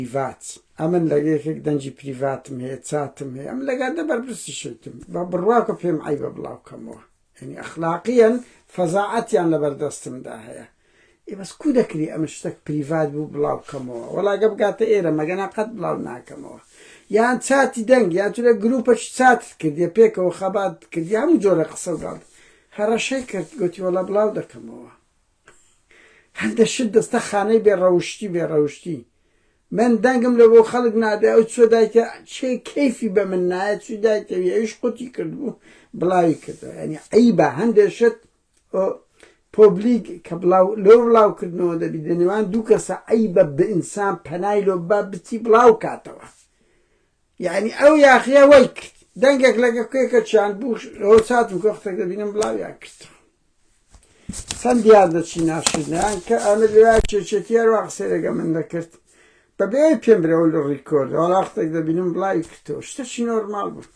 پریڤات ئەمن لە یەکێک دەنگی پریڤاتم هەیە چاتم هەیە ئەم لەگا دە بەرپرسی شتم بە بڕواکە پێم عیبە بڵاوکەمەوە ینی ئەخلاقیەن فەزاعەتیان لە بەردەستمدا هەیە ئێ بەس کو دەکری ئەمە شتێک پریڤات بوو بڵاوکەمەوە وەڵاگە بگاتە ئێرە مەگەنا قەت بڵاو ناکەمەوە یان چاتی دەنگ یا تو لە گروپەش چات کردیە پێکەوە خەبات کردی هەموو جۆرە قسە گاڵ هەڕەشەی کرد گوتی وەڵا بڵاو دەکەمەوە هەندە شت دەستە خانەی بێ ڕەوشتی بێ ڕەوشتی من دەنگم لە بۆ خەڵک نادێ ئەو چۆ دایتە چێ کەیفی بە من نایە چی دایتەوی ئەویش قوتی کردبوو بڵاوی کردەوە ینی عیبە هەندێ شت پۆبلیک کە بڵاو لۆ بڵاو کردنەوە دەبی لە نێوان دوو کەسە عیبە بە ئینسان پەنای لۆ بە بچی بڵاو کاتەوە یانی ئەو یاخیە وای کرد دەنگێک لەگە کوێکە چیان بوو ئەوە چاتم کۆختێک دەبینم بڵاویان کرد سەند دیار دەچی ناشرنیان کە ئەمە لێوا چێچێتی هەروە قسەی لەگە من دەکرد بە بێ پێم برەوە لە ڕیکۆرد وەڵاختێک دەبینم بڵاوی کردەوە شتەشی نۆرمال بوو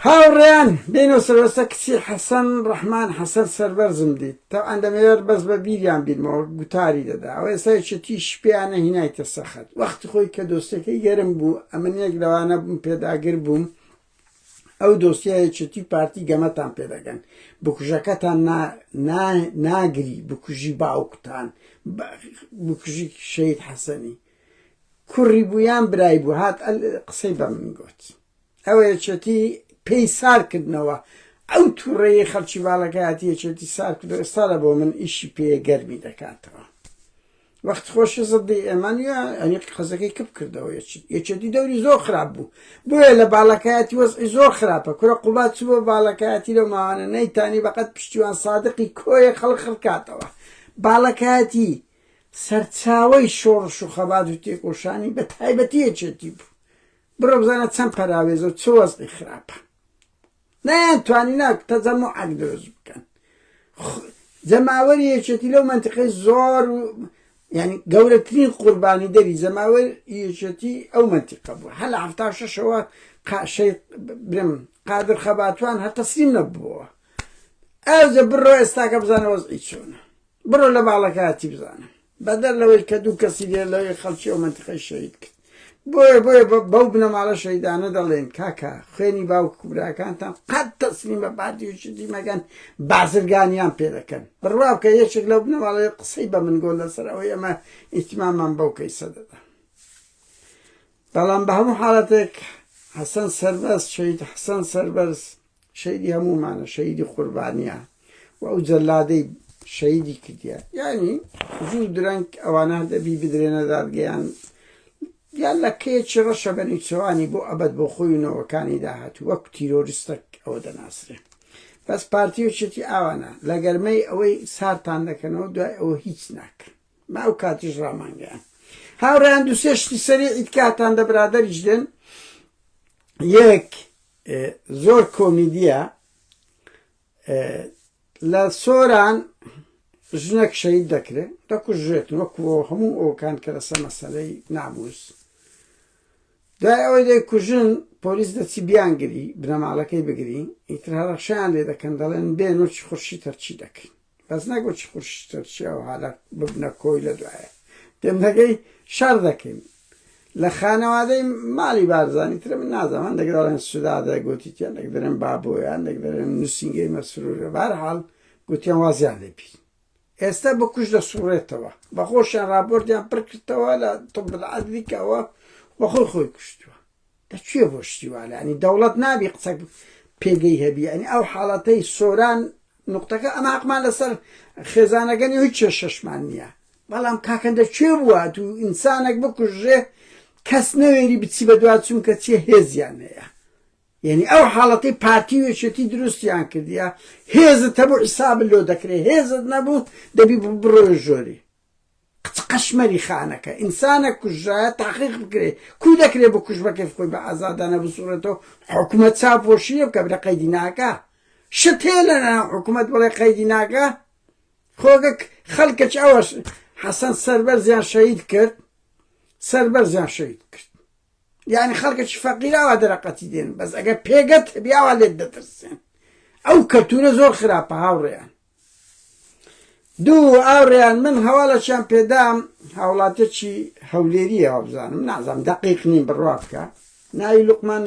هاوڕێیان بێنەوە سەروەستە کچی حەسەن ڕەحمان حەسەن سەربەرزم دیت تەوعەن دەمەوێت بەس بە بیریان بیرمەوە گوتاری دەدا ئەوە ئێستا یەکێتیش پێیانە هینایتە سەخت وەخت خۆی کە دۆستەکەی گەرم بوو ئەمن یەک لەوانە بووم پێداگر بووم ئەو دۆسیە یەکێتی پارتی گەمەتان پێدەگەن بکوژەکەتان ناگری بکوژی باوکتان بکوژی شەید حەسەنی کوڕی بوویان برای بوو هات قسەی بە من گوت ئەوە یەکێتی پێی سار کردنەوە ئەو توڕەیەی خەڵکی باڵەکە هاتی یەکێتی سار کردو ئێستا لە بۆ من ئیشی پێیە گەرمی دەکاتەوە وەخت خۆشی زدی ئێمان یا ئەنی قەزەکەی کپ کردەوە یەکێتی دەوری زۆر خراپ بوو بۆیە لە باڵەکایەتی وەزعی زۆر خراپە کورە قوبات چوە باڵەکایەتی لەو ماوانە نەیتانی بەقەت پشتیوان سادقی کۆیە خەڵ خڕکاتەوە باڵەکایەتی سەرچاوەی شۆڕش و خەبات و تێکۆشانی بە تایبەتی یەکێتی بوو بڕۆ بزانە چەند پەراوێزە و چ وەزعی خراپە نەیانتوانینا تەجەموعێک دروست بکەن جەماوەری یەکێتی لەو منطقەی زۆر یعنی گەورەترین قوربانی دەری جەماوەر یەکێتی ئەو منطقە بوو هەل هەفتا شەشەوە قاشەی برم قادر خەباتوان هەر تەسلیم نەبووەوە ئەوجە بڕۆ ئێستاکە بزانە وەزعی چۆنە بڕۆ لە باڵەکەتی بزانە بەدەر لەوەی کە دوو کەسی لێ لەوێ خەڵکی ئەو مەنتقەی شەهید کرد بۆیە بۆیە بەو بنەماڵە شەهیدانە دەڵێن کاکە خوێنی باوک و براکانتان قەت تەسلیم بە پارتی و شتی مەگەن بازرگانیان پێ دەکەن بڕوا بکە یەکێک لەو بنەماڵەیە قسەی بە من گۆ لەسەر ئەوەی ئەمە ئیتمامان بەو کەیسە دەدا بەڵام بە هەموو حاڵەتێک حەسەن سەربەست شەهید حەسەن سەربەرز شەهیدی هەموومانە شەهیدی قوربانیە و ئەو جەلادەی شەهیدی کردیە یعنی زوو درەنگ ئەوانە دەبی بدرێنە دادگەیان یان لە کەیەکی ڕەشە بە نیچەوانی بۆ ئەبەت بۆ خۆی و نەوەکانی داهات وەک تیرۆریستەک ئەوە دەناسرێ بەس پارتی و چێتی ئاوانە لە گەرمەی ئەوەی سارتان دەکەنەوە دوای ئەوە هیچ ناکەن ما ئەو کاتیش ڕامانگەیان هاوڕیان دوسێشتی سەری ئیتکاتان دە برادەریش دێن یەک زۆر کۆمیدیە لە سۆران ژنەک شەید دەکرێت دەکوژێت وەکوەوە هەموو ئەوکان کە لەسە مەسلەی ناموس دوای ئەوەی دەی کوژن پۆلیس دەچی بیانگری بنەماڵەکەی بگری ئیتر هەڕەشیان لێ دەکەن دەڵێن بێن و چی خورشی تەرچی دەکەین بەس نەک وەچی قورشی تورکیا و عەرەب ببنە کۆی لە دوایە پێمنەگەی شەر دەکەین لە خانەوادەی مالی بارزانی ترە من نازانم هەندێک دەڵێن سودادە گوتیتیان دەک دەرێن بابۆیان دەک دەرێن نووسینگەی مەسرورە بارحاڵ گوتیان وازیان لێ بیر ئێستا بە کوش دەسوڕێتەوە بەخۆشیان راپۆرتیان پڕکردەوە لە تۆبعادلیکەوە بەخۆی خۆی کوشتووە دە کێ بۆ شتی وا لانی دەوڵەت نابی قسە پێگەی هەبی ئەنی ئەو حاڵەتەی سۆران نقطەکە ئەمە حەقمان لەسەر خێزانەکەنی هیچ کێشەشمان نییە بەڵام کاکەندە کوێ بووە تو ئینسانێک بکوژێ کەس نەوێری بچی بە دوا چونکە چێ هێزیان هەیە یعنی ئەو حاڵەتی پارتی و یەکێتی دروستیان کردیە هێزت هەبوو حیساب لۆ دەکرێ هێزت نەبوو دەبی بڕۆ ژۆری کچ قەشمەری خانەکە ئینسانە کوژرا تاقیق بکرێ کو دەکرێ بە کوژ بەکەی خۆی بە ئازادانە بسوڕێتەوە حکومەت چا پۆشیە بکە بلە قەیدی ناکە شت هەیە لە ناو حکومەت بڵێ قەیدی ناکە خۆگە خەڵکەچ ئەوەش حەسەن سەربەرزیان شەهید کرد سەربەرزیان شەهید کرد یعنی خەڵکەکی فەقیراوە دەرەقەتی دێن بەس ئەگەر پێگەت بیاوە لێت دەترسێن ئەو کەلتورە زۆر خراپە هاوڕێیان دوو ئاوڕیان من هەواڵەکیان پێدام هاوڵاتێکی هەولێریە وابزانم نازانم دەقیق نیم بڕوا بکە ناوی لوقمان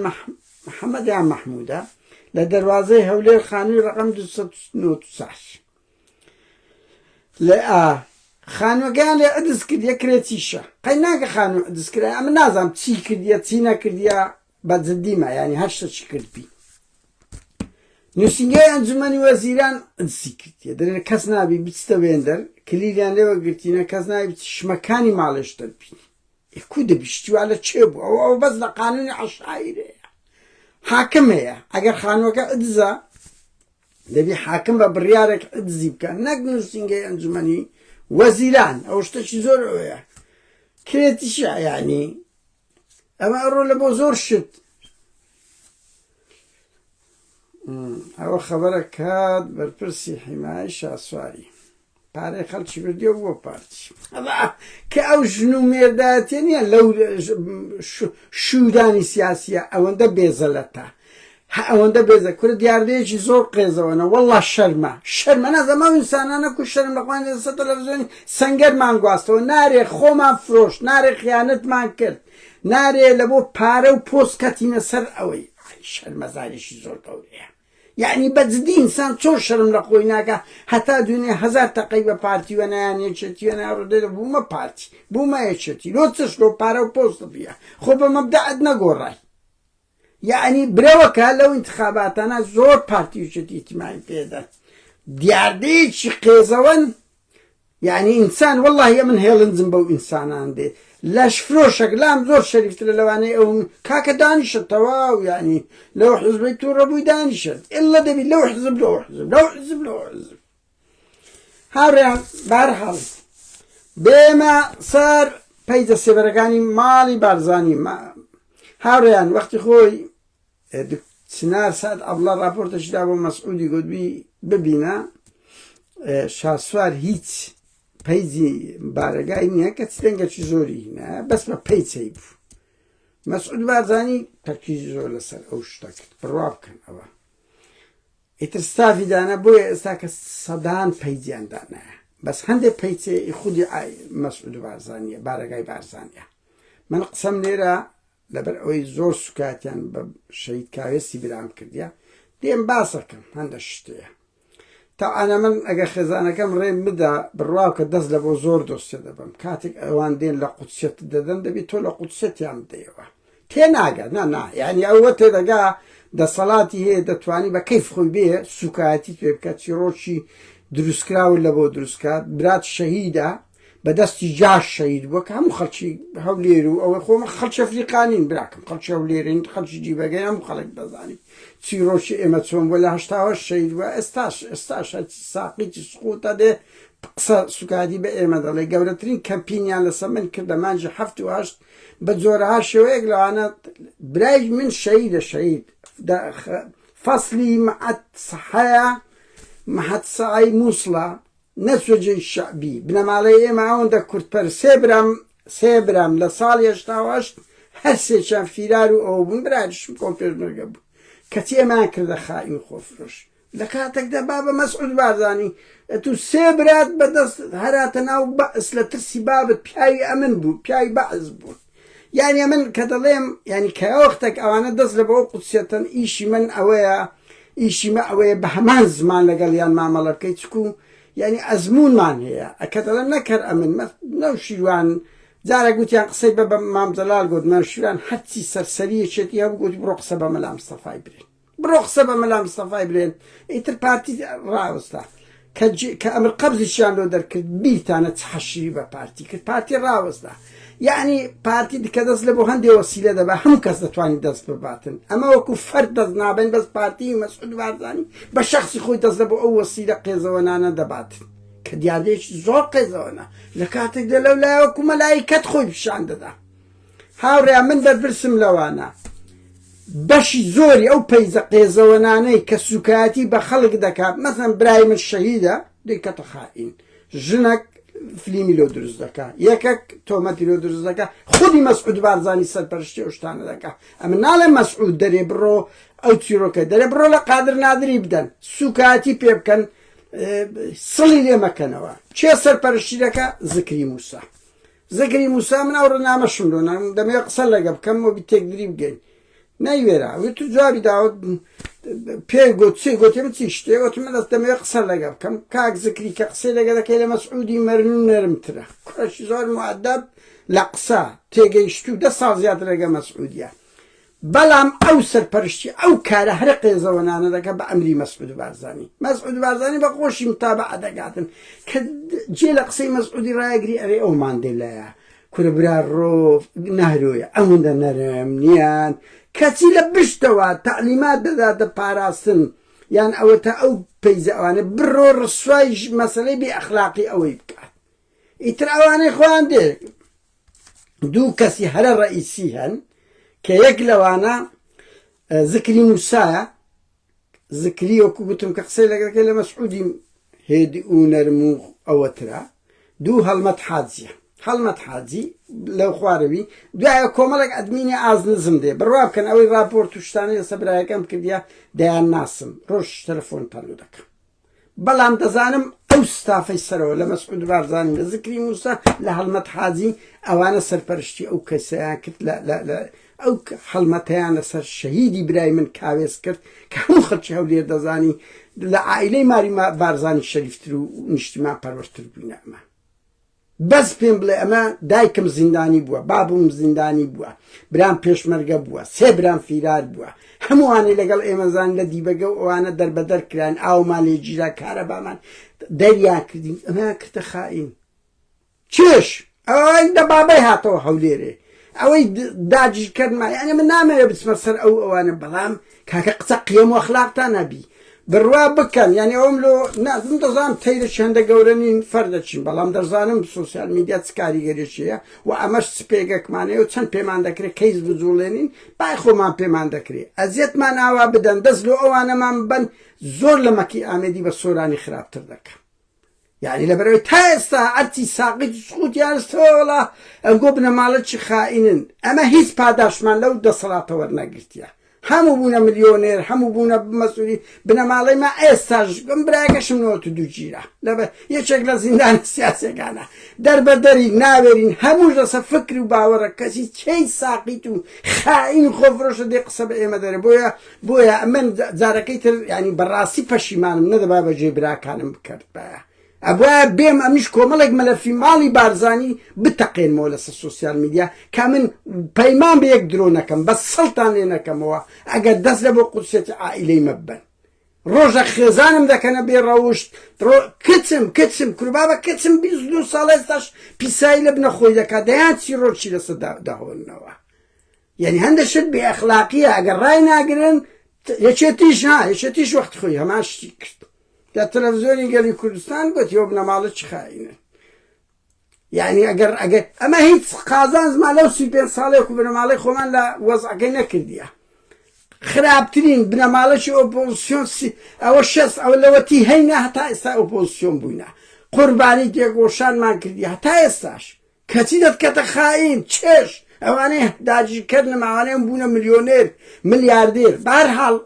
محەممەدیان مەحموودە لە دەواازەی هەولێر خانووی ڕقم 1990 لە ئا خانوەکەیان لێ ئەدس کرد یە کرێتیشە قەی ناکە خانوو ئەدس کرا ئەمە نازانم چی کردیە چی نەکردیە بە جدی ما یانی هەر شتەچی کرد بی نووسینگەی ئەنجومەنی وەزیران ئەجسی کردیە دەێن کەس نابی بچتە وێندەر کلیلیان لێوە گرتینە کەس نای بچ شمەکانی ماڵێش دەربین ئەکو دەبیشتیوا لە چێ بوو ئەو ئەو بەس لە قانونی عشاعیرەیە حاکم هەیە ئەگەر خانوەکە ئەدزە دەبی حاکم بە بڕیارێک ئەدزی بکە نەک نووسینگەی ئەنجومەنی وەزیران ئەو شتەکی زۆر ئەوەیە کرێتیشە ینی ئەمە ئەڕۆ لە بۆ زۆر شت ئەوە خەبەرە کات بەرپرسی حیمای شاسواری پارەی خەڵکی بردیە بۆ پارتی کە ئەو ژن و مێرداتێ نیە لەو شودانی سیاسیە ئەوەندە بێزەلەتە هە ئەوەندە بێزە کورە دیاردەیەکی زۆر قێزەوەنە وەڵا شەرمە شەرمە نازەم ئەو ئینسانانە کو شەرم لە خۆیان دەسە تەلەفزیۆنی سەنگەرمان گواستەوە نارێ خۆمان فرۆشت نارێ خیانەتمان کرد نارێ لە بۆ پارە و پۆست کەتینە سەر ئەوەی شەرمەزاریشی زۆر گەورەیە یعنی بە جدی ئینسان چۆن شەرم لە خۆی ناکە هەتا دوێنێ هەزار تەقەی بە پارتی وە نایان یەکێتی وە نایان ڕدێ بوومە پارتی بوومە یەکێتی لۆ چش لۆ پارە و پۆست بیە خۆ بە مەبدەعت نەگۆڕای یەعنی برەوەکە لەو ئینتخاباتانە زۆر پارتی و چەتی تیماین پێدە دیاردەیەکی قێزەوەن یعنی ئینسان واللهە من هێڵنجم بەو ئینسانان دێ لەش فرۆشەک لام زۆر شەریفترە لەوانەیە ئەو کاکە دانیشە تەواو ینی لەو حزبی تو ڕەبووی دانیشن ئللا دەبی لەو حزب لەو حزب لەو حزب لەو حزب هاوڕێیان بارحاڵ بێمە سەر پەیجە سێبەرەکانی ماڵی بارزانانی هاوڕێیان وەختی خۆی سنار سعد ئەبڵە راپۆرتەشدا بۆ مەسعودی گوتبی ببینە شاسوار هیچ پەیجی بارەگای نییە کە چ دەنگەکی زۆری هینە بەس بە پەیچەی بوو مەسعود بارزانانی تەرکیزی زۆر لەسەر ئەو شتەکرد بڕوا بکەن ئەوە ئیتر ستافی دانا بۆیە ئێستا کە سەدان پەیجیان دانایە بەس هەندێک پەیچێ ئی خودی ئای مەسعود بارزانیە بارەگای بارزانیە من قسەم لێرە لەبەر ئەوەی زۆر سوکاتیان بە شەید کاوێسی برام کردیە دێم باسەکەم هەندە شتەیە تاعاە من ئەگە خێزانەکەم ڕێم بدا بڕواو کە دەست لە بۆ زۆر دۆستێ دەبم کاتێک ئەوان دێن لە قوچێت دەدەن دەبی تۆ لە قوچێتیان بدەیەوە تێناگا نا نا یعنی ئەوە تێدەگا دەسەڵاتی هەیە دەتوانی بە کەیف خۆی بێ سوکایەتی توێ بکە چیڕۆکی دروستکراون لە بۆ دروستکات برات شەهیدا بەدەستی جاش شەید بووە کە هەموو خەڵکی هەولێر و ئەوەی خۆمە خەڵکی ئەفریقانین براکەم خەڵکی هەولێرین خەڵکی جیبەگەی هەموو خەڵک دەزانی چیرۆکی ئێمە چۆن بووە لە هەشتاوە شەید وە ئێستاش ئێستاش هەرچی ساقیی سقوتە دێ قسە سوکادی بە ئێمە دەڵێ گەورەترین کەمپینیان لەسەر من کردە مانجی هەفت و هەشت بە جۆرەها شێوەیەک لەوانە برای من شەهیدە شەهید فەسلی مەعەد سەحەیە مەحەد سەعەی موسڵە نەچوە جێی شەعبی بنەماڵەی ئێمە ئەوەندە کوردپەر سێ برام سێ برام لە ساڵی هەشتا و هەشت هەر سێکیان فیرار و ئەوە بوون برایشم کۆن پێشمەرگە بوو کەچی ئێمەیان کردە خائین و خۆفرۆش لە کاتەکدا بابە مەسعود بارزانی ئەتو سێ برات بە دەست هەراتە ناو بەعس لە ترسی بابت پیاوی ئەمن بوو پیاوی بەعس بوون یانی ئەمن کە دەڵێم یانی کەوەختەک ئەوانە دەست لە بەوە قوتسەتەن ئیشی من ئەوەیە ئیشی مە ئەوەیە بە هەمان زمان لەگەڵ یان مامەڵە بکەیت چکو یانی ئەزمونمان هەیە ئەکە دەڵێم نەکەر ئەمن مە نەو شیروان جارە گوتیان قسەی بە بە مام جەلال گوت مە شیروان هەرچی سەرسەریەکێتی هەبوو گوتی بڕۆ قسە بە مەلا مستەفای برێ بڕۆ قسە بە مەلا مستەفای برێن ئیتر پارتی ڕاوەستا کە ئەمر قەبزیشیان لۆ دەرکرد بیرتانە چ حەشری بە پارتی کرد پارتی ڕاوەستا یعنی پارتی دکە دەست لە بۆ هەندێ وەسیلە دەبا هەموو کەس دەتوانین دەست بباتن ئەمە وەکو فەرد دەست نابن بەس پارتی مەسعود بارزانی بە شخصی خۆی دەست لە بۆ ئەو وەسیلە قێزەوەنانە دەباتن کە دیاردەیەکی زۆر قێزەوەنە لە کاتێکدا لەو لایەوە کومەلایکەت خۆی پیشان دەدا هاوڕێیان من بەرپرسم لەوانە بەشی زۆری ئەو پەیجە قێزەوەنانەی کە سوکایەتی بە خەڵک دەکات مەسەن برای من شەهیدە دەیکەتە خائین ژنەک فلیمی لۆ دروست دەکا یەکەک تۆمەتی لۆ دروست دەکا خودی مەسعود بارزانی سەرپەرشتی ئەو شتانە دەکا ئەمە ناڵێ مەسعود دەرێ بڕۆ ئەو چیرۆکە دەرێ بڕۆ لە قادر نادری بدەن سوکاتی پێ بکەن سڵی لێ مەکەنەوە چێ سەرپەرشتی دەکا زکری موسا زەکری موسا من ئەوڕۆ نامەشم لۆ نام دەمەوێت قسە لەگە بکەم و تێکدری بگەین نەیوێرا وێت تو جوابی داوت پێ گوت چی گوتێ من چی شتێ وت من دەست دەمەوێت قسە لەگە بکەم کاک زکری کە قسەی لەگە دەکەی لە مەسعودی مەرن و نەرمترە کوڕەشی زۆر معدب لە قسە تێگەیشتوو دە ساڵ زیاتر لەگە مەسعودیە بەڵام ئەو سەرپەرشتی ئەو کارە هەرە قێزەوەنانە دەکات بە ئەمری مەسعود بارزانی. مەسعود بارزانی بە خۆشی متابعە دەکاتن کە جێ لە قسەی مەسعودی ڕایەگری ئەرێ ئەو ماندێلایە کورە برا ڕۆ نەهرۆیە ئەوەندە نەرم نیان کەچی لە بشتەوە تەعلیمات دەداتە پاراستن یان ئەوەتە ئەو پەیزە ئەوانە بڕۆ ڕسوای مەسەلەی بێ ئەخلاقی ئەوەی بکات ئیتر ئەوانەی خۆیان دێ دوو کەسی هەرە ڕەئیسی هەن کە یەک لەوانە زکری نووسایە زکری وەکو گوتم کە قسەی لەگەکە لە مەسعودی هێد و نەرم و ئەوەترا دوو هەڵمەت حاجیە هەڵمەت حاجی لەو خوارەوی دوایە کۆمەڵێک ئەدمینی ئازنزم دێ بڕوا بکەن ئەوەی راپۆرت و شتانی لەسە برایەکەم کردیا دەیان ناسم ڕۆژ تەلەفۆن تەلو دەکەم بەڵام دەزانم ئەو ستافەی سەرەوە لە مەسعود بارزانی لە زکری موسا لە هەڵمەت حاجی ئەوانە سەرپەرشتی ئەو کەسیان کرد لە ئەو هەڵمەتیان لەسەر شەهیدی برای من کاوێز کرد کە هەموو خەڵکی هەولێر دەزانی لە عائلەی ماری بارزانی شەریفتر و نیشتیمان پەروەرتر بووینە ئەمە بەس پێم بڵێ ئەمە دایکم زیندانی بووە بابم زیندانی بووە برام پێشمەرگە بووە سێ برام فیرار بووە هەمووانەی لەگەڵ ئێمەزان لە دیبەگە و ئەوانە دەربەدەر کراین ئاومان لێ گیرا کارەبامان دەریا کردین ئەمە کردە خائین چێش ئەوەی دە بابای هاتەوە هەولێرێ ئەوەی داگیرکەرمە یانە من نامەوێ بچمە سەر ئەو ئەوانە بەڵام کاکە قسە قیەم و ئەخلاقتان هەبی بڕوا بکەن یانی ئەوم لۆ نازم دەزانم تەیرە چەندە گەورە نین فەر دەچین بەڵام دەزانم سوسیال میدیا چ کاریگەریەکیە و ئەمەش سپێگەکمانەیە و چەند پێمان دەکرێت کەیس بجوڵێنین بای خۆمان پێمان دەکرێت ئەزیەتمان ئاوا بدەن دەست لۆ ئەوانەمان ببەن زۆر لە مەکی ئامێدی بە سۆرانی خراپتر دەکەن. یعنی لەبەرەوەی تا ئێستا ئەرتی ساقیت و سقوتیانستەوەڵا ئەگۆ بنەماڵە چی خائینن ئەمە هیچ پاداشمان لەو دەسەڵاتە وەرنەگرتیە هەموو بوونە ملیۆنێر هەموو بوونە بمەسووری بنەماڵی ما ئێستاش بم براگەشم نەوە دوو گیرە لەبە یەکێک لە زیندان سیاسەکانە دەربەدەری ناوێرین هەمووش لەسە فکر و باوەڕە کەسی چی ساقیت و خائین خۆفرۆشە دێ قسە بە ئێمە دەرە بۆیە بۆیە ئەمن جارەکەی تر ینی بەڕاستی پەشیمانم نەدەبا بە جێ براکانم بکردبایە ئەبە بێم ئەمیش کۆمەڵێک مەلەفی ماڵی بارزانی بتەقێنمەوە لەسە سوسیال میدیا کا من پەیمان بە یەک درۆ نەکەم بە سەڵتان لێ نەکەمەوە ئەگەر دەست لە بۆ قوسێتی عائیلەی مەبن ڕۆژە خێزانم دەکەنە بێ ڕەوشت کچم کچم کوربابە کچم بی دو ساڵێستاش پیسایی لە بنەخۆی دەکات دەیان چی ڕۆچی لەسە داهۆنەوە یەعنی هەندە شت بێ ئەخلاقیە ئەگەر ڕای ناگرن یەکێتیش ها یەکێتیش وەخت خۆی هەمان شتی کرد لە تەلەڤزیۆنی گەلی کوردستان گوت یۆ بنەماڵە چ خاینە یعنی ئەگەر ئەگەر ئەمە هیچ قازان زمان لەو سی پێ ساڵێک و بنەماڵی خۆمان لە وەزعەکەی نەکردیە خراپترین بنەماڵەی ئۆپۆزیسیۆن ئەوە شەست ئەوە لەوەتی هەینە هەتا ئێستا ئۆپۆزیسیۆن بووینە قوربانی تێگۆشانمان کردی هەتا ئێستاش کەچی دەتکەتە خائین چێژ ئەوانەی داگیرکەرنم ئەوانەیان بوونە ملیۆنێر ملیاردێر بەهەرحاڵ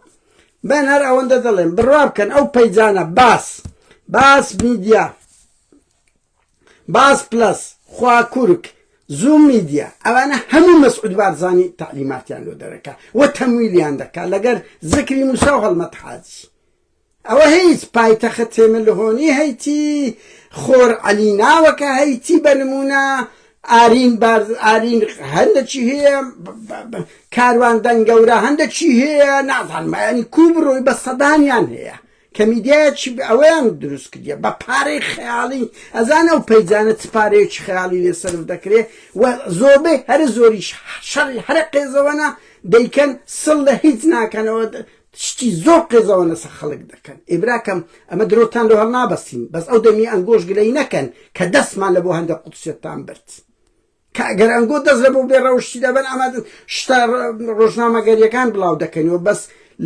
من هەر ئەوەندە دەڵێم بڕوا بکەن ئەو پەیجانە باس باس میدیا باس پلس خوا کورک زوم میدیا ئەوانە هەموو مەسعود بارزانی تعلیماتیان لۆ دەرەکە و تەمویلیان دەکات لەگەر زکری موسا و هەڵمەت حاجی ئەوە هەیت پایتەخت تێملهۆنی هەیتی خۆر عەلی ناوەکە هەیتی بە نمونە ئارین بارز ئارین هەندە چی هەیە کاروان دەنگەورە هەندە چی هەیە نازانم ینی کو بڕۆی بە سەدانیان هەیە کە میدیایەکی ئەوەیان دروست کردە بە پارەی خەیاڵی ئەزانە و پەیجانە چ پارەیەکی خەیاڵی لێ سرف دەکرێ و زۆربەی هەرە زۆریش شەڕی هەرە قێزەوەە دەیکەن سڵ لە هیچ ناکەنەوە شتی زۆر قێزەوەن لەسەر خەڵک دەکەن ئێ براکەم ئەمە درۆتان لۆ هەڵنابەستین بەس ئەو دەمی ئەنگۆش گلەی نەکەن کە دەستمان لە بۆ هەندە قودسیەتتان برد کە ئەگەر ئەنگۆ دەست لە بۆ بێڕەوشتی دەبەن ئەمە شتا ڕۆژنامەگەریەکان بڵاو دەکەنەوە بەس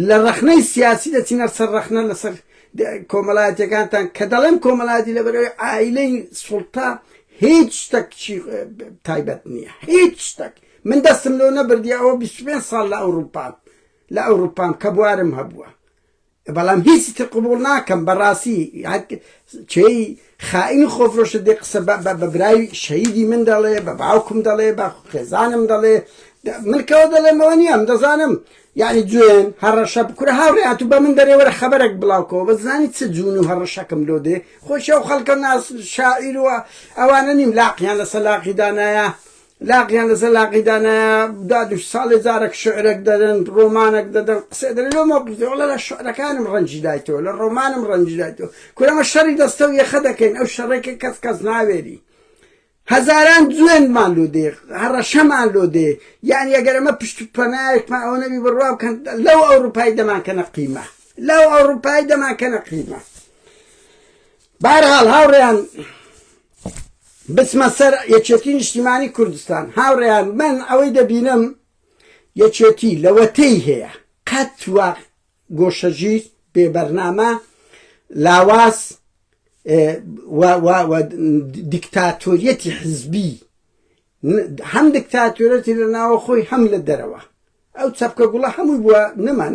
لە ڕەخنەی سیاسی دەچینە سەر ڕەخنە لەسەر کۆمەلایەتەکانتان کە دەڵێم کۆمەلایەتی لەبەرەوەی ئایلەی سوڵتا هیچ شتەک تایبەت نییە هیچ شتەک من دەستم لۆ نەبردی ئەوە 25 ساڵ لە ئەوروپا لە ئەوروپام کە بوارم هەبووە بەڵام هیچی تر قبوڵ ناکەم بەڕاستی چێی خائین و خۆفرۆشە دێ قسە بە برای شەیدی من دەڵێ بە باوکم دەڵێ بە خێزانم دەڵێ من کەەوە دەڵێمەوە نییەم دەزانم یعنی جوێن هەڕەشە بکورە هاوڕێات و بە من دەرێوەرە خەبەرێک بڵاوکەوە بە زانی چ جوون و هەڕەشەکەم لۆ دێ خۆشە و خەڵکە ناس شاعیروە ئەوانە نیم لاقییان لە سەلاقی دانایە لاقیان لەسەر لاقی دانایە داد و ساڵێ جارەک شعرەک دەدەن، ڕۆمانەک دەدەن، قسەێ دەێ لۆ مەوقیفێ وەڵا لە شعرەکانم ڕەنجی دایتەوە، لە ڕۆمانم ڕەنجی دایتەوە. کورە ئەمە شەڕی دەستە و یەخە دەکەین، ئەو شەڕەی کە کەس کەس ناوێری. هەزاران جوێنمان لۆ دێ، هەڕەشەمان لۆ دێ. یەعنی ئەگەر ئەمە پشت و پەنایەکمان ئەوە نەبی بڕوا بکەن لەو ئەوڕوپای دەمانکەنە قیمە. لەو ئەوڕوپای دەمانکەنە قیمە. بەهەرحاڵ هاوڕێیان بچمە سەر یەکێتی نیشتیمانی کوردستان هاوڕێیان من ئەوەی دەبینم یەکێتی لەوەتەی هەیە قەت وا گۆشەژیر بێبەرنامە لاواز دیکتاتۆریەتی حزبی هەم دکتاتورەتی لە ناوە خۆی هەم لە دەرەوە ئەو چەپکە گوڵە هەمووی بووە نەمان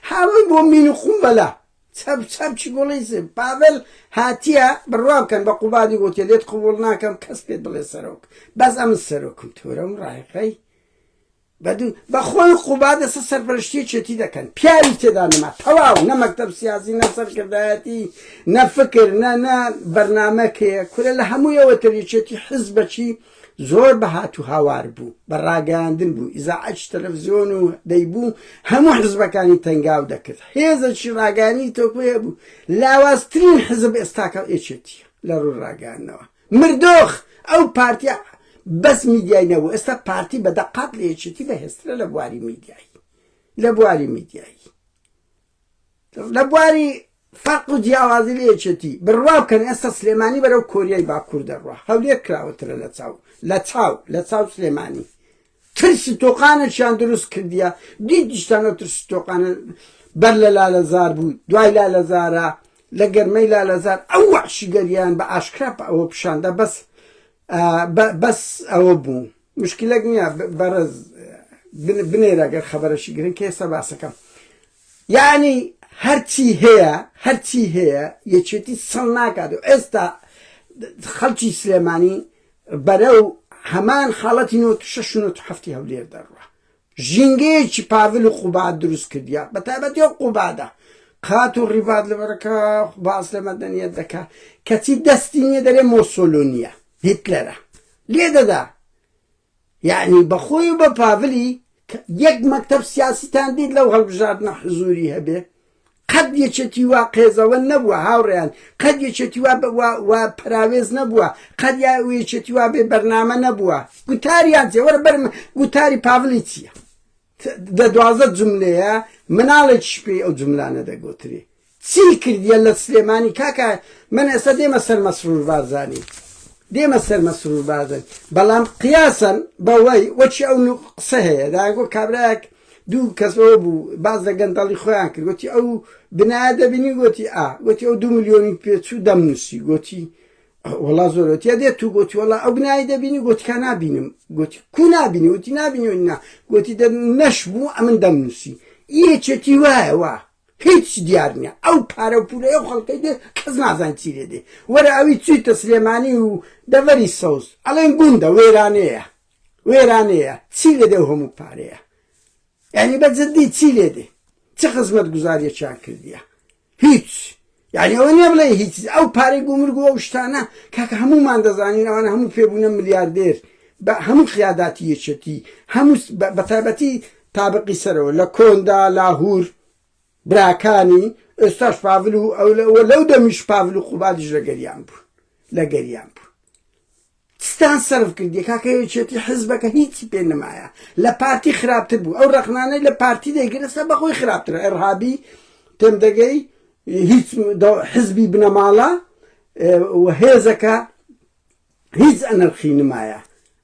هاوەی بۆ مین و قوم بەلا چەپ چەپ چی گوڵی سێ پاڤل هاتیە بڕوا بکەن بە قوبادی گوتیە لێت قوبوڵ ناکەم کەس پێت بڵێ سەرۆک بەس ئەم سەرۆکم تورەم ڕایقەی بەدوو بەخۆی قوبا دەسە سەرپەرشتی چێتی دەکەن پیاوی تێدا نەما تەواو نە مەکتب سیازی نە سەرکردایەتی نە فکر نە نە بەرنمەکەیە کورە لە هەموویەوە تریچێتی حز بەچی زۆر بە هات و هاوار بوو بە ڕاگەیاندن بوو ئیزاعەتش تەلەڤزیۆن و دەیبوو هەموو حزبەکانی تەنگاو دەکرد هێزەکی ڕاگەیانی تۆکو هەبوو لاوازترین حزب ئێستاکە ئێچێتیە لە ڕووی ڕاگەیاندنەوە مردۆخ ئەو پارتیە بەس میدیای نەبوو ئێستا پارتی بە دەقات لە یەکێتی بەهێزترە لە بواری میدیایی لە بواری میدیایی لە بواری فەرق و جیاوازی لە یەکێتی بڕوا بکەن ئێستا سلێمانی بەرەو کۆریای باکوور دەڕوا هەولێر کراوەترە لە چاو لە چاو لە چاو سلێمانی ترسی تۆقانەشیان دروست کردیە دیدیشتان ئەو ترسی تۆقانە بەر لە لالەزار بوو دوای لالەزارە لە گەرمەی لالەزار ئەو وحشیگەریان بە ئاشکرا بە ئەوە پیشاندا بەس ئا بە بەس ئەوە بوو مشکلەک نیە بەڕێز بنێرە گەر خەبەرەشی گرن کە ئێستا باسەکەم یانی هەرچی هەیە هەرچی هەیە یەکێتی سەڵ ناکات و ئێستا خەڵکی سلێمانی بەرە و هەمان حاڵەتی نۆ شش نۆ هەفتی هەولێر دەڕوە ژینگەیەکی پاڤل و قوباد دروست کردیە بە تایبەتی ئەو قوبادە قات و ڕیڤات لەبەرەکە باس لە مەدەنیەت دەکا کەچی دەستی نیە دەرێ مۆسۆلۆنیە هیتلەرە لێ دەدا یعنی بەخۆی و بە پاڤلی یەک مەکتەب سیاسیتان دیت لەو هەڵبژاردنە حزوری هەبێ قەت یەکێتی وا قێزەوەن نەبووە هاوڕێیان، قەت یەکێتی وا وا پەراوێز نەبووە، قەت یا یەکێتی وا بێ بەرنامە نەبووە. گوتاریان چیە وەرە بەرم گوتاری پاڤلی چیە دە دوازدە جملەیە مناڵێکیش پێی ئەو جملانە دەگۆترێ چی کردیە لە سلێمانی کاکە من ئێستا دێمە سەر مەسرور بارزانی دێمە سەر مەسرور بارزانی بەڵام قیاسەن بەوەی وەچی ئەو قسە هەیە داگۆ کابراەک دوو کەس ئەوە بوو باس لە گەندەڵی خۆیان کرد گوتی ئەو بنایە دەبینی گوتی ئا گوتی ئەو دوو ملیۆنی پێچوو دەمنووسی گوتی وڵا زۆرەتە دێت تو گوتی وڵا ئەو بنای دەبینی گوتکە نبینم گوتی کو نبینی وتی نبینی نا گوتی نەش بوو ئەمن دەمنووسی یەکێتی وایە وا هیچ دیار نییە ئەو پارە و پولە ئەو خەڵکەی دێ کەس نازان چی لێ دێ وەرە ئەوی چیتە سلێمانی و دەڤەری سەوز ئەڵێن گوندە وێرانەیە وێرانەیە چی لێدێ ئەو هەموو پارەیە یعنی بە جدی چی لێدێ چ خزمەت گوزاریەکیان کردیە هیچ یعنی ئەوە نیە بڵێ هیچ ئەو پارەی گومرگ و ئەو شتانە کاکە هەمومان دەزانین ئەوانە هەموو پێبوونە ملیاردێر بە هەموو خیاداتی یەکێتی هەموو بە تایبەتی تابقی سەرەوە لە کۆندا لاهور براکانی ئێستاش پاڤل و ئەو لەو دەمیش پاڤل و قوبادیش لە گەریان بوون لە گەریان بوون ستان سەرف کردیە کاکە یەکێتی حزبەکە هیچی پێ نمایە لە پارتی خراپتر بوو ئەو ڕەخنانەی لە پارتی دەیگرسە بەخۆی خراپتر ئەرهابی تێم دەگەی هیچ حزبی بنەماڵە و هێزەکە هیچ ئەنرخی نمایە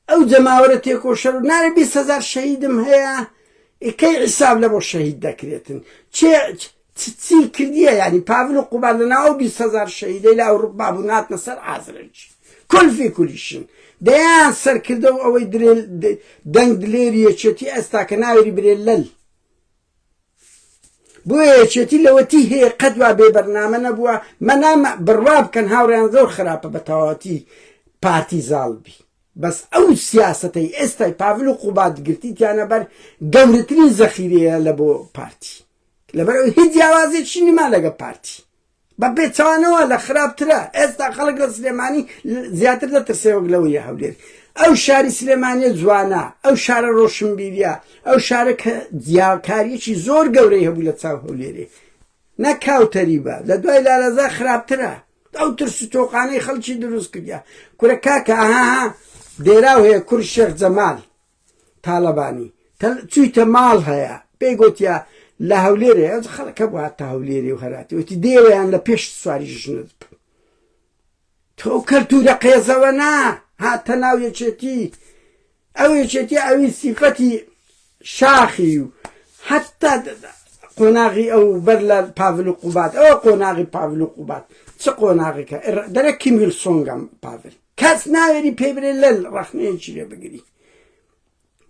ئەو جەماوەرە تێکۆشەر و نارە بیست هزار شەهیدم هەیە ئیکەی عیساب لە بۆ شەهید دەکرێتن چێ چ چی کردیە یانی پاڤل و قوباد لە ناو ئەو بیست هەزار شەهیدەی لە ئەوروپا بوون هاتنە سەر ئازرەیج کول فی کولیشین دەیان سەرکردە و ئەوەی درێل دەنگ دلێری یەکێتی ئێستا کە ناوێری برێ لەل بۆ یەکێتی لەوەتی هەیە قەت وا بێ بەرنامە نەبووە مەنام بڕوا بکەن هاوڕیان زۆر خراپە بە تەواتی پارتی زاڵ بی بەس ئەو سیاستەی ئێستای پاڤل و قوبات گرتیتیانە بەر گەورەترین زەخیرەیە لە بۆ پارتی لەبەرەوەی هیچ جیاوازێکی نما لەگە پارتی بە پێچوانەوە لە خراپترە ئێستا خەڵک لە سلێمانی زیاتر دەترسێوەک لەوە یە هەولێر ئەو شاری سلێمانە جوانە ئەو شارە ڕۆشنبیریە ئەو شارە کە جیاکاریەکی زۆر گەورەی هەبوو لە چاو هەولێرێ نەکاوتەری بە لە دوای لالەزا خراپترە ئەو ترس و تۆقانەی خەڵکی دروست کردیا کورە کاکە ئاها دێراو هەیە کور شێخ جەمال تالەبانی تەل چویتە ماڵ هەیە پێی گوتیا لە هەولێرێ ئەو خەڵکە بوو هاتە هەولێری و هەراتی وتی دێوەیان لە پێش سواری ژنت بکەم تۆ کەلتورە قێزەوە نا هاتە ناو یەکێتی ئەو یەکێتی ئەوی سیفەتی شاخی و حتا قۆناغی ئەو بەر لە پاڤل و قوبات ئەوە قۆناغی پاڤل و قوبات چ قۆناغێکە دەرە کیمیل سۆنگەم پاڤل کەس ناوێری پێی برێ لەل ڕەخنەیەکی لێ بگری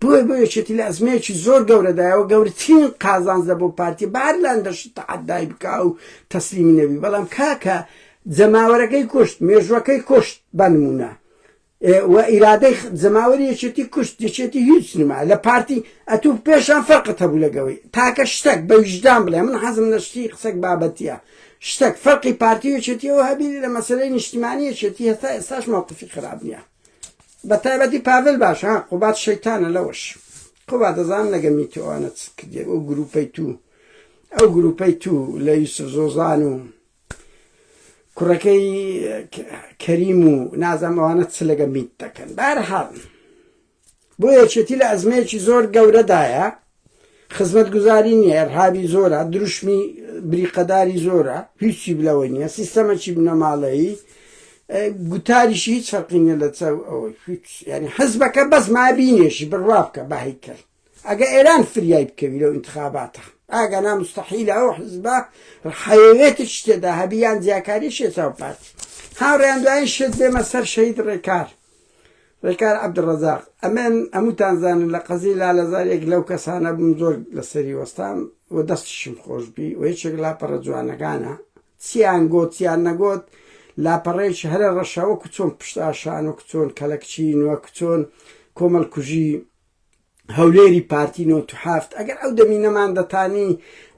بۆی بۆ یەکێتی لە ئەزمەیەکی زۆر گەورەدایەوە گەورترین قازانزە بۆ پارتی بار لان دەشت تەعدای بکا و تەسلیمی نەبی بەڵام کاکە جەماوەرەکەی کوشت مێژوەکەی کوشت بەنمونە و ئیرادەی جەماوەری یەکێتی کوشت یەکێتی هیچ نما لە پارتی ئەتوو پێشان فەرقت هەبوو لەگەوەی تاکە شتێک بە ویژدان بڵێ من حەزم نەشتی قسەک بابەتە شتەک فەرقی پارتی و یەکێتیەوە هەبینی لە مەسەلەی نیشتیمانی یەکێتی هەتا ئێستاش مەوقفی خراپ نییە بە تایبەتی پاڤل باش ها قوبات شەیتانە لەوەش قوبات دەزان نەگەمی تو ئەوانە چت کردێ ئەو گروپەی تو ئەو گروپەی تو لە یوسف زۆزان و کوڕەکەی کەریم و نازەمەوانە چ لەگە میت دەکەن بارحاڵ بۆیە یەکێتی لە ئەزمەیەکی زۆر گەورەدایە، خزمەتگوزاری نییە، ئێرهابی زۆرە، دروشمی بریقەداری زۆرە، هیچی لەوەی نییە، سیستەمەکی بنەماڵەیی، گوتاریشی هیچ فەرقی نییە لەسەر ئەوەی، هیچ، یانی حزبەکە بەس مایە بینێژی، بڕوا بکە بە هەیکەل، ئەگەر ئێران فریای بکەوی لەو ئینتخاباتە، ئەگەنا موستەحیلە ئەو حزبە حەیەوێتێکی تێدا هەبی یان جیاکاریی شێتاو پارتی، هاوڕێیان دوایین شت بێمە سەر شەهید ڕێکار. ڕێکار عەبدولڕەزاق، ئەمن هەمووتان زانن لە قەزیی لالەزار یەک لەو کەسانە بووم زۆر لەسەری وەستام و دەستیشم خۆش بی و یەکێک لاپەڕە جوانەکانە، چییان گۆت چییان نەگۆت لاپەڕەیەکی هەرە ڕەشە وەکوو چۆن پشتئاشان وەکوو چۆن کەلەکچیی وەکوو چۆن کۆمەڵکوژیی، هەولێری پارتی نۆت و حەفت ئەگەر ئەو دەمی نەمان دەتانی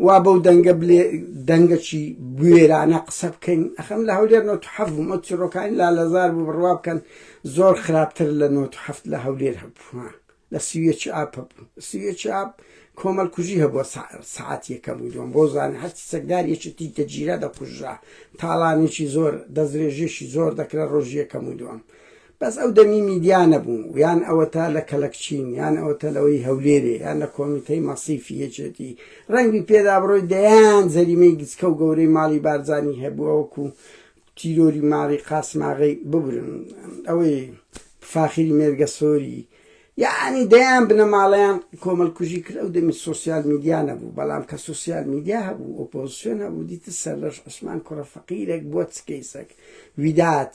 وا بەو دەنگە بلێ دەنگەکی بوێرانە قسە بکەین ئەخەم لە هەولێر نۆت و حەفت بووم ئەو چیڕۆکانی لا لەزار بوو بڕوا بکەن زۆر خراپتر لە نۆت و حەفت لە هەولێر هەبوو لە سیویەکی ئاپ هەبوو سیویەکی ئاپ کۆمەل کوژی هەبووە سعات یەکەم و دوم بۆ زانە هەرچی چەکدار یەکی تیش دەگیرا دەکوژرا تاڵانێکی زۆر دەسترێژێکی زۆر دەکرا ڕۆژی یەکەم و دوم بەس ئەو دەمی میدیا نەبوو یان ئەوەتا لە کەلەکچین یان ئەوەتە لەوەی هەولێرێ یان لە کۆمیتەی مەسیفی یەکێتی ڕەنگبی پێدا بڕۆی دەیان جەریمەی گچکە و گەورەی ماڵی بارزانی هەبووە وەکو تیرۆری ماڵی قاسماغی ببرن ئەوەی فاخری مێرگە سۆری یعنی دەیان بنەماڵەیان کۆمەلکوژی کرد ئەو دەمی سوسیال میدیا نەبوو بەڵام کە سوسیال میدیا هەبوو ئۆپۆزیسیۆن هەبوو دیتە سەرلەش عوسمان کوڕە فەقیرێک بۆ چکەیسەک ویدات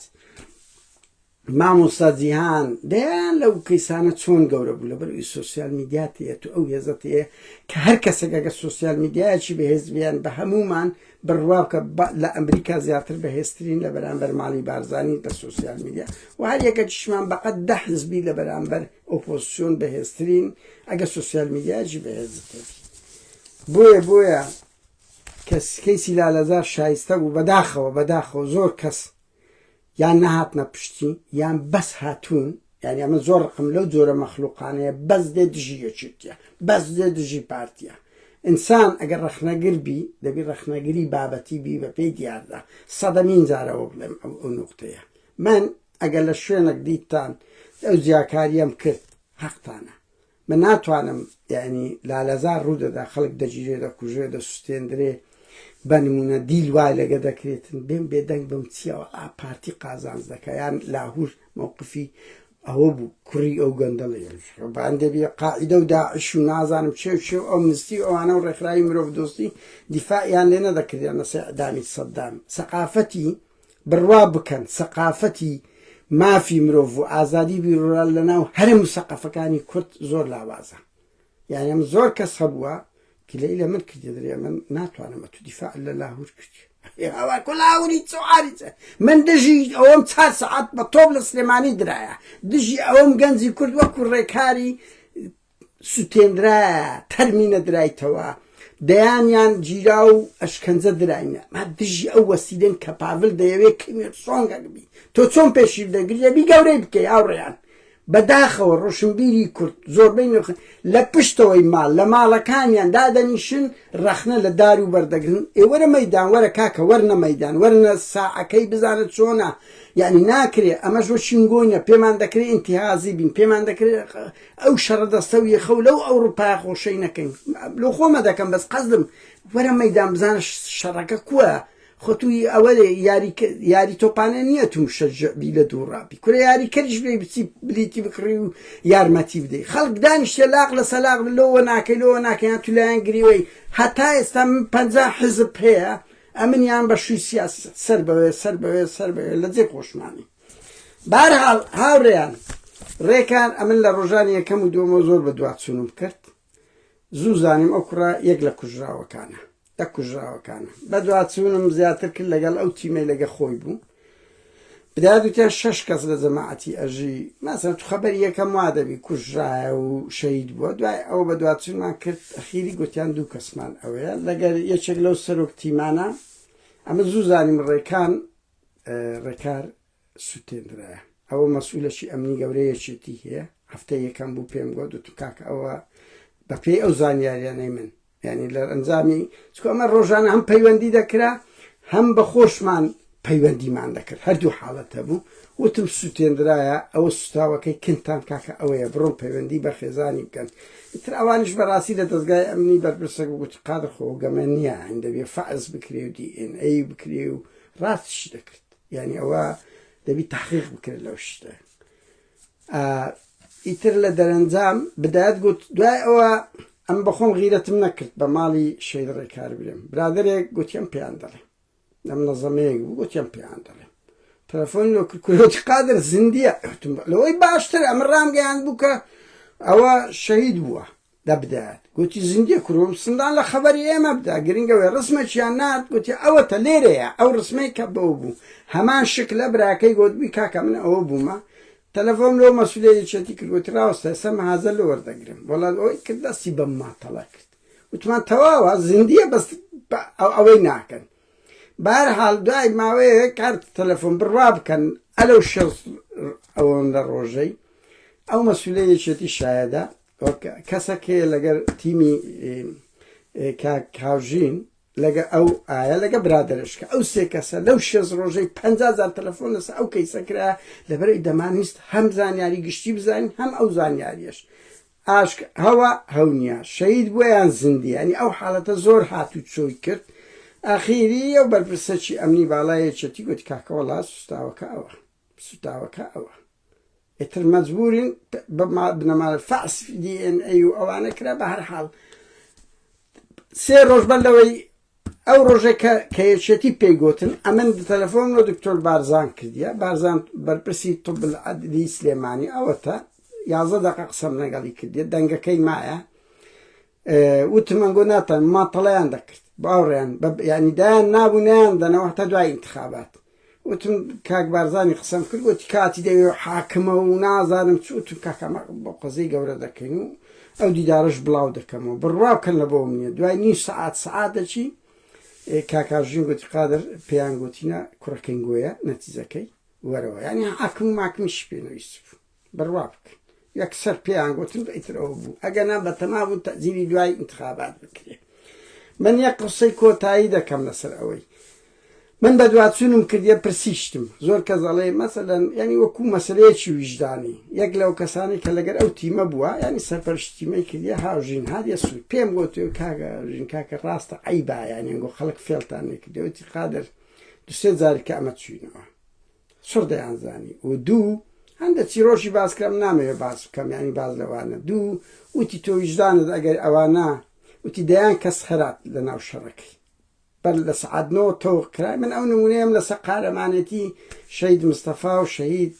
مامۆستا جیهان دەیان لەو کەیسانە چۆن گەورە بوو لەبەر ئەوی سوسیال میدیات هەیە تو ئەو هێزت هەیە کە هەر کەسێکەکە سوسیال میدیایکی بەهێز بیان بە هەمومان بڕوا بکە لە ئەمریکا زیاتر بەهێزترین لە بەرامبەر ماڵی بارزانین لە سوسیال میدیا و هەر یەکەکیشمان بەقەت دە حزبی لە بەرامبەر ئۆپۆزسیۆن بەهێزترین ئەگە سوسیال میدیایکی بەهێزت هەیە بۆیە بۆیە کەس کەیسی لالەزار شایستە بوو بەداخەوە بەداخەوە زۆر کەس یان نەهاتنە پشتی یان بەس هاتوون یعنی ئەمە زۆر ڕقم لەو جۆرە مەخلوقانەیە بەس دێ دژی یەکێتیە بەس دێ دژی پارتیە ئینسان ئەگەر ڕخنەگر بی دەبی ڕخنەگری بابەتی بی بە پێی دیاردا سەدەمین جارەوە بڵێم ئەو ئەو نوختەیە من ئەگەر لە شوێنێک دیتان ئەو جیاکاریەم کرد حەقتانە من ناتوانم یانی لالەزار ڕوودەدا خەڵک دەگیرێ دەکوژێ دەسوستێندرێ بە نمونە دیل وای لەگە دەکرێتن بێن بێدەنگ بم چیەوە ئا پارتی قازانج دەکە یان لاهور مووقفی ئەوە بوو کوڕی ئەو گەندەڵی باندێبی قاعدە و داعش و نازانم چێ و چێ و ئەو مستی ئەوانە و ڕێکخراوی مرۆڤ دۆستی دیفاعیان لێ نەدەکردیان لەسەر ئەدامی سەددام سەقافەتی بڕوا بکەن سەقافەتی مافی مرۆڤ و ئازادی بیرورا لە ناو هەرە مسەقەفەکانی کورد زۆر لاوازە یانە من زۆر کەس هەبووە گلەی لە من کردی درێ من ناتوانم تو دیفاع لە لاهور کردی من دژی ئەوەم چار سعات بە تۆپ لە سلێمانی درایە دژی ئەوەم گەنجی کورد وەکو ڕێکاری سوتێنرایە تەرمینە درایتەوە دەیانیان گیرا و ئەشکەنجە دراینە ما دژی ئەو وەسیلێن کە پاڤل دەیەوێت کیمێر سۆنگەک بی تۆ چۆن پێشیر دەگری ئەبی گەورەی بکەی هاوڕێیان بەداخەوە ڕۆشنبیری کورد زۆربەی نرخ لە پشتەوەی ماڵ لە ماڵەکانیان دادەنیشن ڕەخنە لە دار و بەردەگرن ئێوەرە مەدان وەرە کاکە وەرنە مەدان وەرنە ساعەکەی بزانە چۆنا یعنی ناکرێ ئەمەش وە شینگۆینە پێمان دەکرێت ئینتهازی بین پێمان دەکرێت ئەو شەڕە دەستە و یەخە و لەو ئەوڕوپایە خۆشەی نەکەین لۆ خۆمە دەکەم بەس قەسدم وەرە مەیدان بزانە شەڕەکە کوە خۆ توی ئەوە یاری یاری تۆپانە نییە تو مشەجعبی لە دوو ڕابی کورە یاری کەریش بێ بچی بلیتی بکڕی و یارمەتی بدەی خەڵک دانیشتە لاق لە سەلاق لۆوە ناکەی لۆوە ناکەیان تو لایەن گریوەی هەتا ئێستا من پەنجا حزب هەیە ئەمنیان بە شووی سیاسی سەر بەوێ سەر بەوێ سەر بەوێ لە جێ خۆشمانی بەهەرحاڵ هاوڕێیان ڕێکان ئەمن لە ڕۆژانی یەکەم و دووەمەوە زۆر بە دواچوونم کرد زوو زانیم ئەو کوڕە یەک لە کوژراوەکانە لە کوژراوەکانە بە دواچوونم زیاتر کرد لەگەڵ ئەو تیمەی لەگە خۆی بوو بدات وتیان شش کەس لە جەماعەتی ئەژی ماسە تو خەبەر یەکەم وا دەبی کوژرایە و شەید بووە دوای ئەو بە دواچوونمان کرد ئەخیری گوتیان دوو کەسمان ئەوەیە لەگەر یەکێک لەو سەرۆک تیمانە ئەمە زوو زانیم ڕێکان ڕێکار سوتێنرایە ئەوە مەسئولەکی ئەمنی گەورە یەکێتی هەیە هەفتە یەکەم بوو پێم گۆ دوت کاک ئەوە بەپێی ئەو زانیاریانەی من ینی لە ئەنجامی چکە ئەمە ڕۆژانە هەم پەیوەندی دەکرا هەم بە خۆشمان پەیوەندیمان دەکرد هەردوو حاڵەت هەبوو وتم سووتێنرایە ئەوە سوتاوەکەی کنتان کاکە ئەوەیە بڕۆن پەیوەندی بە خێزانی بکەن تر ئەوانش بەڕاستی لە دەستگای ئەمنی بەرپرسە گوت قادر خۆگەمە نییە هەندەبێ فەز بکرێ و دی ئێن ئەی بکرێ و ڕاست شی دەکرد یعنی ئەوە دەبی تحقیق بکرد لەو شتە ئیتر لە دەرەنجام بدات گوت دوای ئەوە ئەم بەخۆم غیرەتم نەکرد بە ماڵی شەید ڕێکار برێم برادێک گوتیان پێیان دەڵێ لەم نەزەمەیەک بوو گوتیان پێیان دەڵێ تەلەفۆن لۆ کورۆتی قادر زیندیە لەوەی باشتر ئەمە ڕامگەیان بوو کە ئەوە شەید بووە دەبدات گوتی زیندی کوروم سندان لە خەبەری ئێمە بدا گرنگە وێ ڕسمێکیان نارد گوتی ئەوەتە لێرەیە ئەو ڕسمەی کە بەو بوو هەمان شک لە براکەی گوت بی کاکە من ئەوە بوومە تەلەفۆم لەو مەسولێ یەکێتی کرد گوتی ڕاوەستە ئێستا مەحازە لۆ وەردەگرم وەڵا ئەوەی کرد دەستی بەم ماتەڵە کرد وتمان تەواوە زیندیە بەس ئەوەی ناکەن بار حال دوای ماوەیە کارت تەلەفۆن بڕوا بکەن ئەلو شەز ئەوەندە ڕۆژەی ئەو مەسولە یەکێتی شایەدا وەک کەسەک هەیە لەگەر تیمی کاک هاوژین لەگە ئەو ئایا لەگە برادرش کە ئەو سێ کەسە لەو شێز ڕۆژەی پ زار تەلەفۆن لەسە ئەو کەیسە کرا لەبەرەی دەمانویست هەم زانیاری گشتی بزانین هەم ئەو زانیاریش ئاشک هەوا هەونیا شەید بۆیان زیندیانی ئەو حاڵەتە زۆر هات و چۆی کرد ئاخیری ئەو بەرپرسەکی ئەمنی باڵایەکێتی گوت کاکەوەڵا سوستاوەکە ئەوە سوتاوەکە ئەوە ئیتر مەجبورین بە بنەمای فەحس دی ئێن ئەی و ئەوانە کرا بە هەر حاڵ سێ ڕۆژ بەر لەوەی ئەو ڕۆژێکە کە یەکێتی پێی گوتن ئەمن تەلەفۆن و دکتۆر بارزان کردیە بارزان بەرپرسی طب العدلی سلێمانی ئەوەتە یازە دەقە قسەم لەگەڵی کردیە دەنگەکەی مایە وتمان گۆ ناتان ماتەڵیان دەکرد باوڕیان ینی دایان نابوونیان دەنەوە هەتا دوای انتخابات وتم کاک بارزانی قسەم کرد گۆتی کاتی دەوێ و حاکمە و نازانم چ وتم کاکە ئەمە بۆ قەزێی گەورە دەکەین و ئەو دیدارەش بڵاو دەکەمەوە بڕوا بکەن لە بۆم نییە دوای نیو سەعات سەعات دەچی کاکاژین گوتی قادر پێیان گۆتینە کوڕەکەین گۆیە نەتیجەکەی وەرەوە یعنی حاکم و ماکمیش پێ نەویست بوو بڕوا بکە یەکسەر پێیان گوتم بە ئیتر ئەوە بوو ئەگەنا بەتەما بوو تەجیلی دوای انتخابات بکرێت من یەک قسەی کۆتایی دەکەم لەسەر ئەوەی من بە دوواچوونم کردیە پرسیشتم زۆر کە زەڵێ مەسەدەن ینی وەکو مەسلەیەکی ویژدانی یەک لەو کەسانی کە لەگەر ئەو تیمە بووە ینی سەرپەرشتیمەی کردە هاوژین هاریە سوود پێم گوت و کاگە ژین کاکە ڕاستە ئەی بایانیان گۆ خەڵک فێڵتان نکردەوەتی قادر دوسێ جارکە ئەمە چوینەوە چڕ دەیانزانی و دوو هەندە چیرۆکی باس کرام نامەوێ باس بکەم یعنی باز لەوانە دوو وتی تۆ ویژدانت ئەگەر ئەوانە وتی دەیان کەس خەرات لە ناو شەڕەکەی بەر لە سعادنۆ تۆ کرای من ئەو نمونەیەم لەسە قارەمانێتی شەید مستەفا و شەید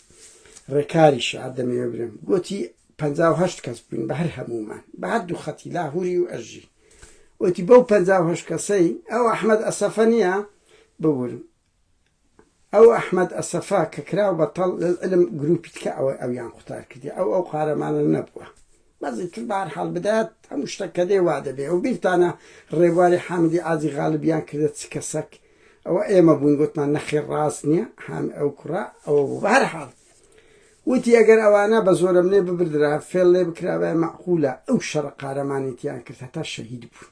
ڕێکاری شار دەمەوێ برم گوتی پ هەشت کەس بووین بە هەر هەمومان بە هەردوو خەتی لاهوری و ئەژی وتی بەو پ هەشت کەسەی ئەو ئەحمد ئەسەفە نیە ببورم ئەو ئەحمەد ئەسەفە کە کراو بە تەڵ لەلعلم گروپی تکە ئەوەی ئەویان قوتار کردی ئەو ئەو قارەمانە نەبووە بەزی تر بار حال بدات هەموو شتە کە دێ وا دەبێ و بیرتانە ڕێبواری حامدی ئازی غالبیان کردە چ کەسەک ئەوە ئێمە بووین گوتمان نەخێر ڕاست نییە حام ئەو کوڕە ئەوە بوو بە هەر حاڵ وتی ئەگەر ئەوانە بە زۆرم لێ ببردرا فێڵ لێ بکرابای مەعقولە ئەو شەڕە قارەمانێتیان کرد هەتا شەهید بوون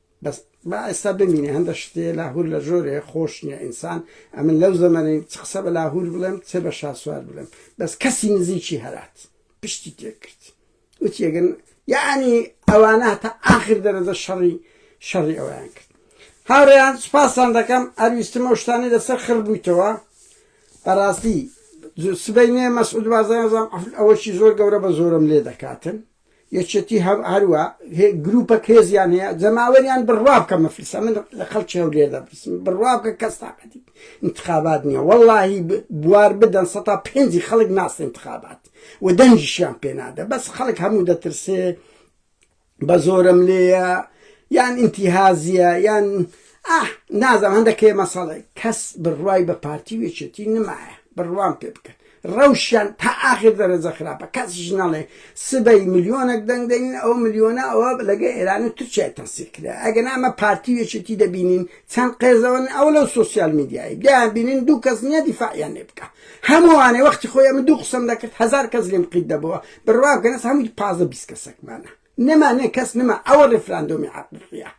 بەس با ئێستا بمینێ هەندە شتێ لاهور لە ژۆرێ خۆش نییە ئینسان ئەمن لەو زەمەنەی چ قسە بە لاهور بڵێم چێ بە شاسوار بڵێم بەس کەسی نزیکی هەرات پشتی تێکرد وتیەگەن یعنی ئەوانە تا ئاخر دەرەجە شەڕی شەڕی ئەویان کرد هاوڕێیان سپاسان دەکەم ئەرویستم ئەو شتانی لەسەر خڕ بوویتەوە بەڕاستی سبەینێ مەسعود بازانزان ئەوەشی زۆر گەورە بە زۆرم لێ دەکاتن یەکێتی هەروا گروپەک هێزیان هەیە جەماوەریان بڕوابکە مەفلسە من لە خەڵکی هەولێر دەپرسم بڕوابکە کەس تاقەتی انتخابات نییە وەڵاهی بوار بدەن سەتا پێنجی خەڵک ناسی انتخابات و دەنگیشیان پێنادە بەس خەڵک هەموو دەترسێ بە زۆرم لێیە یان انتیهازیە یان ئاه نازم هەندەکێ مەسەڵێ کەس بڕوای بە پارتی وێچێتی نمایە بڕوام پێ بکەن ڕەوشیان تا ئاخر دەرەجە خراپە کەسیش نەڵێ سبەی ملیۆنەک دەنگ دەنین ئەو ملیۆنە ئەوە لەگە ئێران و تورکیای تەنسیق کرا ئەگەنا ئەمە پارتی و یەکێتی دەبینین چەند قێزەوەن ئەو لەو سۆسیال میدیای دەیان بینین دوو کەس نییە دیفاعیان لێ بکا هەمووانێ وەختی خۆی ئەمن دوو قسەم دەکرد هەزار کەس لێم قیت دەبەوە بڕوا بکەن ئێستا هەمووی پازدە بیست کەسێکمانە نما نێ کەس نما ئەوە ڕیفراندۆمی حەقیقیە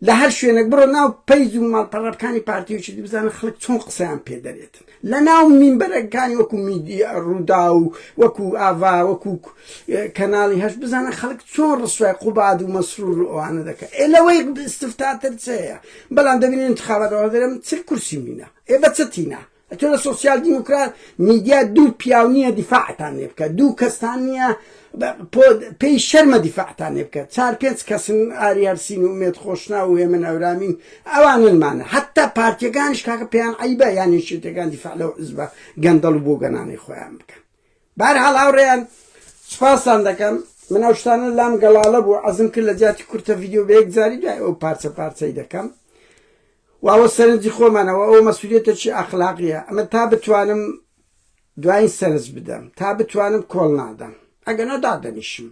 لە هەر شوێنێک بڕۆ ناو پەیج و ماڵپەڕەکانی پارتی و شتی بزانە خەڵک چۆن قسەیان پێ دەرێتن لە ناو مینبەرەکانی وەکو میدی ڕوودا و وەکو ئاڤا وەکو کەناڵی هەش بزانە خەڵک چۆن ڕسوای قوباد و مەسرور و ئەوانە دەکە ئێ لەوەی استفتاتر چەیە بەڵام دەبینین انتخابات ئەوە دەرێم چل کورسی مینە ئێ بەچەتینا تۆ سوسیال دیموکرات میدیا دوو پیاو نییە دیفاعتان لێ بکە دوو کەستان نییە پێی شەرمە دیفاعتان لێ بکە چار پێنج کەسن ئاریارسین و مێت خۆشنا و هێمن ئەورامین ئەواننمانە حتا پارتیەکانش کاکە پێیان عیبە یان نشێتەکان دیفاع لەو عزبە گەندەڵ و بۆ گەنانەی خۆیان بکەن بار هەڵ هاوڕێیان سپاسان دەکەم من ئەو شتانە لام گەڵاڵە بوو عزم کرد لە جیاتی کورتە یددیو بە یەک جاری دوای ئەو پارچە پارچەی دەکەم و ئەوە سەرنجی خۆمانە و ئەوە مەسولیەتێکی ئەخلاقیە ئەمە تا بتوانم دواین سەرنج بدەم تا بتوانم کۆڵ نادەم ئەگەنا دادەنیشم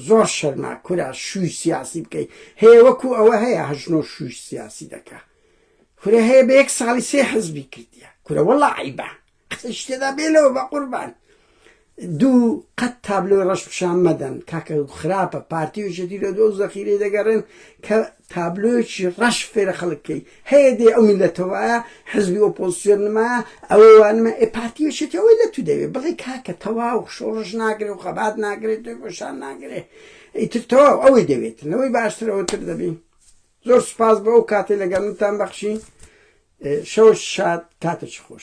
زۆر شەرما کورا شووی سیاسی بکەی هەیە وەکو ئەوە هەیە هەژنۆ شووی سیاسی دەکە کورە هەیە بە یەک ساڵی سێ حزبی کردیە کورە وەڵا عیبە قسەی شتێدا بێ لەوە بەقوربان. دوو قەت تابلۆی ڕەش پشان مەدەن کاکە خراپە پارتی و یەکێتی لە دۆ زەخیرەی دەگەڕێن کە تابلۆیەکی ڕەش فێرە خەڵک کەی هەیە دێ ئەو میلەتە وایە حزبی ئۆپۆزسیۆن نمایە ئەوە وانمە ئێ پارتی و یەکێتی ئەوەی لە تو دەوێ بڵێ کاکە تەواو شۆڕش ناگرێ و خەبات ناگرێ تۆی گۆشان ناگرێ ئیتر تەواو ئەوەی دەوێت لەوەی باشتر ئەوتر دەبی زۆر سوپاس بۆ ئەو کاتەی لەگەڵ منتان بەخشی شەوەش شاد کاتێکی خۆش.